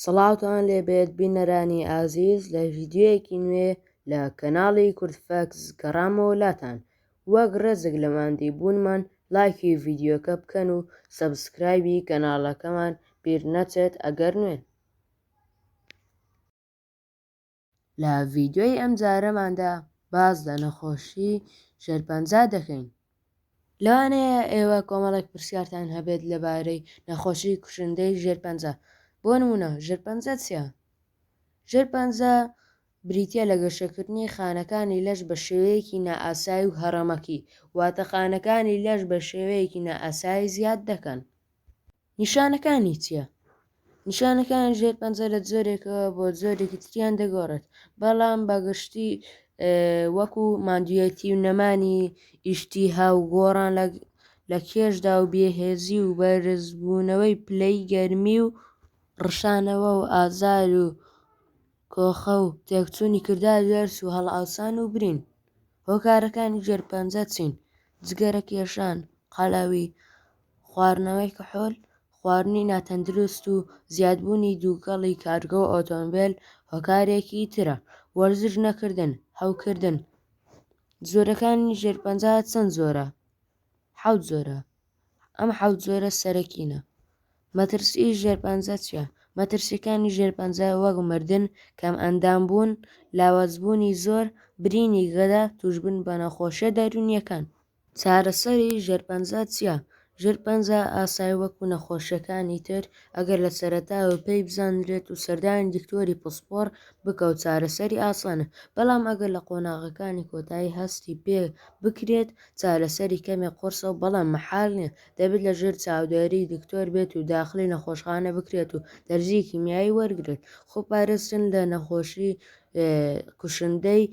سڵاوتان لێبێت بینەرانی ئازیز لە ڤیدیۆیەکی نوێ لە کەناڵی کوردفەکس گەڕامەوە لاتان وەک ڕێزێک لە ماندی بوونمان لایکی ڤیدیۆکە بکەن و سەبسکرایبی کەناڵەکەمان بیر نەچێت ئەگەر نوێن. لە ڤیدیۆی ئەمجارەماندا باس لە نەخۆشی شێرپەنجە دەکەین. لەوانەیە ئێوە کۆمەڵێک پرسیارتان هەبێت لەبارەی نەخۆشی کوشندەی ژێرپەنجە. بۆ نموونە ژێرپەنجە چییە؟ ژێرپەنجە بریتییە لە گەشەکردنی خانەکانی لەش بە شێوەیەکی نائاسایی و هەڕەمەکی، واتە خانەکانی لەش بە شێوەیەکی نائاسایی زیاد دەکەن. نیشانەکانی چیە؟ نیشانەکانی ژێر پەنجە لە جۆرێکەوە بۆ جۆرێکی تریان دەگۆڕێت بەڵام بەگشتی وەکو مادویەتی و نەمانی ئیشتی هاو گۆڕان لە لە کێشدا و بێهێزی و بەرزبوونەوەی پلەی گەرمی و ڕشانەوە و ئازار و کۆخە و تێکچوونی کردا دەرس و هەڵاوسان و برین هۆکارەکانی ژێر پەنجە چین جگەرە کێشان قالاوی خواردنەوەی کحول، خواردنی ناتەندروست و زیادبوونی دووکەڵی کارگە و ئۆتۆمبێل هۆکارێکی ترە. وەرزش نەکردن، هەوکردن، جۆرەکانی ژێر پەنجا چەند جۆرە؟ حەوت جۆرە. ئەم حەوت جۆرە سەرەکینە. مەترسی ژێر پەنجا چییە؟ مەترسیەکانی ژێر پەنجا وەک مردن، کەمئەندام بوون، لاوازبوونی زۆر، برینی گەدە، تووشبوون بە نەخۆشییە دەروونییەکان. چارەسەری ژێرپەنجە چیە؟ ژێرپەنجە ئاسای وەکو نەخۆشیەکانی تر ئەگەر لە سەرەتاوە پێی بزانرێت و سەردانی دکتۆری پسپۆڕ بکە و چارەسەری ئاسانە بەڵام ئەگەر لە قۆناغەکانی کۆتایی هەستی پێ بکرێت چارەسەری کەمێک قورسە و بەڵام مەحال نیە دەبێت لە ژێر چاودێری دکتۆر بێت و داخلی نەخۆشخانە بکرێت و دەرزی کیمیایی وەرگرێت خۆپارێزتن لە نەخۆشی کوشندەی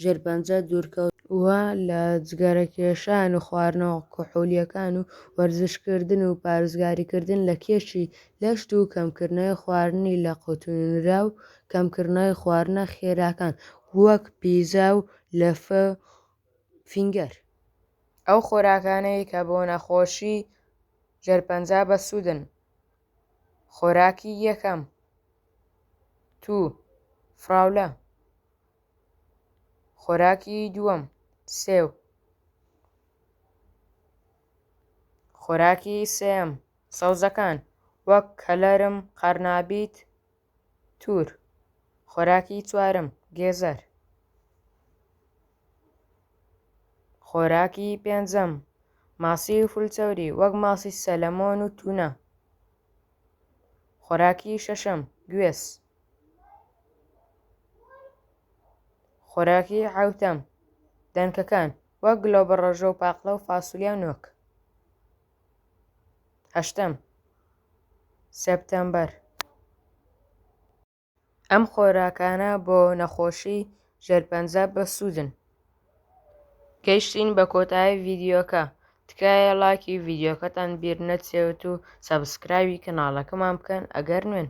ژێر پەنجە دوورکەوت، وا لە جگەرەکێشان و خواردنەوە کحولییەکان و وەرزشکردن و پارێزگاریکردن لە کێشی لەشت و کەمکردنەوەی خواردنی لەقوتونراو کەمکردنەوەی خواردنە خێراکان وەک پیزا و لەفە و فینگەر. ئەو خۆراکانەی کە بۆ نەخۆشی ژێر پەنجە بەسوودن، خۆراکی یەکەم، توو، فراولە. خۆراکی دووەم سێو خۆراکی سێم سەوزەکان وەک کەلەرم قەرنابیت تور خۆراکی چوارم گێزەر خۆراکی پێنجەم ماسی و فولچەوری وەک ماسی سەلەمۆن و تونە خۆراکی شەشەم گوێز خۆراکی حەوتەم، دەنکەکان، وەک گلۆبڕەژۆ و پاقلە و فاسولیا و نۆک. هەشتەم، سێپتەمبەر. ئەم خۆراکانە بۆ نەخۆشی ژێرپەنجە بەسوودن. گەیشتین بە کۆتایی ڤیدیۆکە تکایە ڵاکی ڤیدیۆکەتان بیر نەچێت و سەبسکرایبی کەناڵەکەمان بکەن ئەگەر نوێن.